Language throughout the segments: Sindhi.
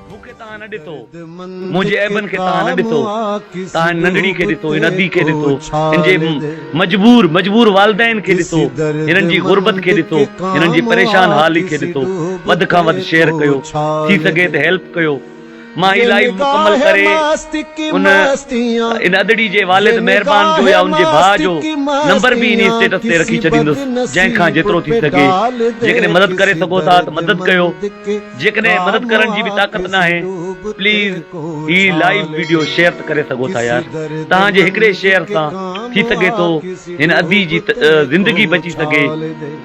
مون کي تان نه ڏتو، منهنجي عيبن کي تان نه ڏتو، تان هن ننڍڙي کي ڏتو، هن ادي کي ڏتو، هن جي مجبور، مجبور والدين کي ڏتو، هنن جي غربت کي ڏتو، هنن جي پريشان حالي کي ڏتو، وڌ کان وڌ شيئر ڪيو، ٿي سگهي ته هيلپ ڪيو. مان هي لائيو مڪمل ڪري ان ان ادڙي جي والد مهربان جو يا ان جي ڀاء جو نمبر به انهي اسٽيٽس تي رکي ڇڏيندس جنهن کان جيترو ٿي سگهي جيڪڏهن مدد ڪري سگهو ٿا ته مدد ڪيو جيڪڏهن مدد ڪرڻ جي به طاقت ناهي پليز هي لائيو ويڊيو شيئر ته ڪري سگهو ٿا يار توهان جي هڪڙي شيئر سان ٿي سگهي ٿو هن ادي جي زندگي بچي سگهي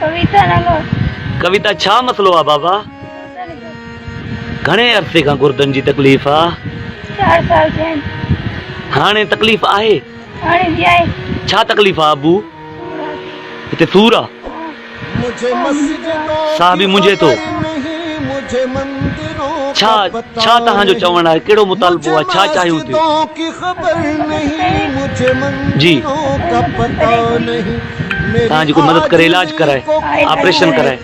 ڪويتا نه ڳاء. ڪويتا ڇا مسئلو آ بابا. گهڻي عرصي کان گردن جي تڪليف آ. چار سال ٿيا آهن. هاڻي تڪليف آهي. هاڻي به آهي. ڇا تڪليف آ ابو. سور آ. هتي سور آ. ساهه به منجهي ٿو. ڇا ڇا توهان جو چوڻ آهي ڪهڙو مطالبو آ ڇا چاهيون ٿيون. جي. تنهنجي ڪو مدد ڪري علاج ڪرائي آپريشن ڪرائي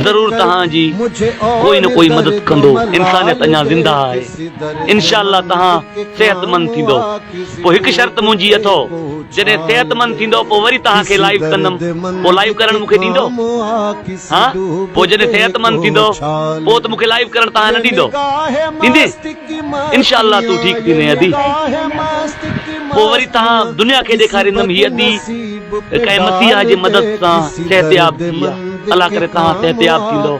ضرور تنهان جي ڪوئي نه ڪوئي مدد ڪندو انسانيت اڃا زنده آهي انشاء الله تنهان صحت مند ٿيندو پوء هڪ شرط منهنجي اٿو جڏهن صحت مند ٿيندو پوء وري تنهان کي لائيو ڪندم پوء لائيو ڪرڻ مون کي ڏيندو ها پوء جڏهن صحت مند ٿيندو پوء ته مون کي لائيو ڪرڻ تنهان نه ڏيندو ڏيندي انشاء الله تون ٺيڪ ٿيندين ادي پوء وري تهان دنيا کي ڏيکاريندم هي ادي ڪنهن مسيحا جي مدد سان صحتياب ٿي آ الله ڪري تهان صحتياب ٿيندو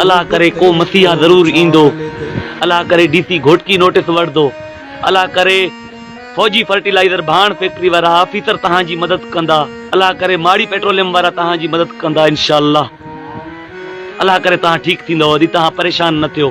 الله ڪري ڪو مسيحا ضرور ايندو الله ڪري ڊي سي گهوٽڪي نوٽس وٺندو الله ڪري فوجي فرٽيلائزر ڀاڻ فيڪٽري وارا آفيسر تهان جي مدد ڪندا الله ڪري ماڙي پيٽروليم وارا تهان جي مدد ڪندا انشاء الله الله ڪري تهان ٺيڪ ٿيندو ادي تهان پريشان نه ٿيو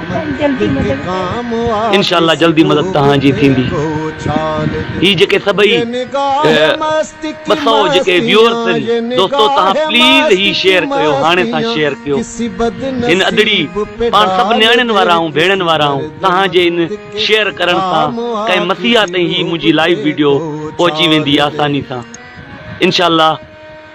انشاء الله جلدي مدد توهان جي ٿيندي هي جيڪي سڀئي ٻه سئو جيڪي ويورس آهن دوستو توهان پليز هي شيئر ڪيو هاڻي سان شيئر ڪيو هن ادڙي پاڻ سڀ نياڻين وارا آهون ڀيڻن وارا آهون توهان جي ان شيئر ڪرڻ سان ڪنهن مسيحا تائين هي منهنجي لائيو ويڊيو پهچي ويندي آساني سان انشاء الله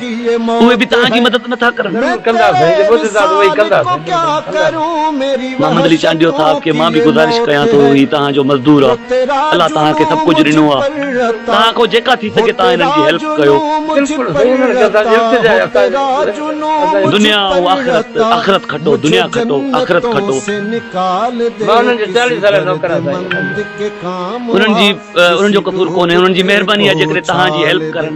اهي به توهان جي مدد نٿا ڪرن. ضرور ڪندا سائين جي معجزا ته اهي ڪندا سائين بلڪل ڪندا. محمد علي چانڊيو صاحب کي مان به گذارش ڪيان ٿو هي توهان جو مزدور آ الله توهان کي سڀ ڪجهه ڏنو آ توهان کان جيڪا ٿي سگهي توهان هنن جي هيلپ ڪيو. بلڪل سائين انهن کي اسان جي التجا آهي اسان جي اسان جي. دنيا ۽ آخرت آخرت کٽو دنيا کٽو آخرت کٽو. مان انهن جو چاليهه ساله نوڪر آ سائين اسان جي. انهن جي انهن جو قصور ڪونهي انهن جي مهرباني آ جيڪڏهن توهان جي هيلپ ڪرن.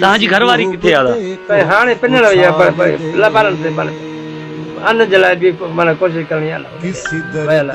توهان جي گهر واري ڪٿي آ دادا. هاڻي پنڻ وئي آ پر ٻارن تي مڙهي ان جي لاء به معنيٰ ڪوشش ڪرڻي آ نه ويل آ.